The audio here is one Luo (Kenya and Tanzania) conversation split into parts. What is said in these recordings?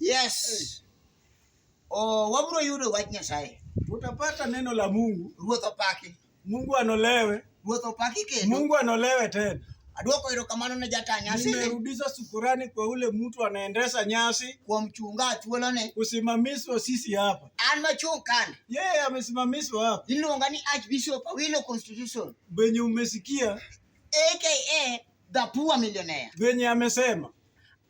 Yes. Oh, wabro yudo wach Nyasaye. Tutapata neno la Mungu. Ruoth opaki. Mungu anolewe. Ruoth opaki kendo. Mungu anolewe tena. Adwoko erokamano ne jata nyasi. Nimerudisha shukrani kwa ule mtu anaendesha nyasi kwa mchunga thuolo ne kusimamishwa sisi hapa. An machung kani. Yeye yeah, amesimamishwa hapa. Iluonga ni Archbishop Awilo Constitution. Benye umesikia aka the poor millionaire. Benye amesema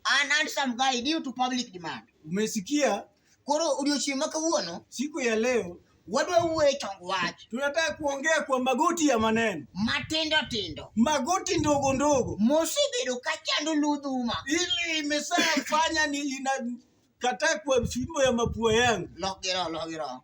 An handsome guy due to public demand. Umesikia? Koro odiochieng' ma kawuono, siku ya leo wadwa wuoyo e chong wach. Tunataka kuongea kwa magoti ya maneno matindo tindo, magoti ndogo ndogo, mosebedo ka chando ludhuma, ili imesafanya ni inakataa kwa fimbo ya mapua yangu. Logiro, logiro.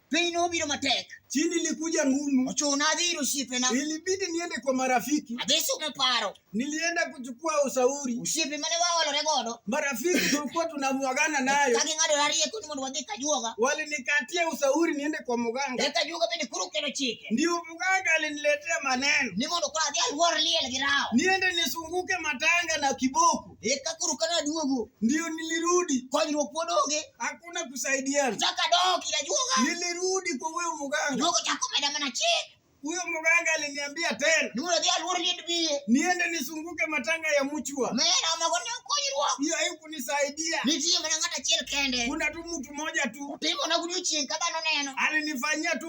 Piny nobiro matek. Chini ilikuja ngumu. Ochuna adhiri osiepena. Ilibidi niende kwa marafiki. Adhi sumo paro. Nilienda kuchukua ushauri. Osiepe mane waolore godo. Marafiki tulikuwa tunamwagana nayo. Kagi ng'ado rariye kuni mondo wadhi kajuoga. Walinikatia ushauri niende kwa muganga. Eka juoga bende kuru kelo chike. Ndio muganga aliniletea maneno. Ni mondo kwa adhi alwor liel gi rao. Niende nisunguke matanga na kiboko. Eka koro kana duogo ndio nilirudi, konyruok pod onge, hakuna kusaidiana. chaka dok ila juoga. Nilirudi kwa huyo mganga, Juoga chako meda mana chik. huyo mganga aliniambia tena Ni mondo adhi aluor liend biye. niende nisunguke matanga ya mchwa. Mera mago ne konyruok. Hiyo haikunisaidia. Nitie mana ng'at achiel kende. Kuna tu mtu mmoja tu Timo na gudu chien ka dhano neno. alinifanyia tu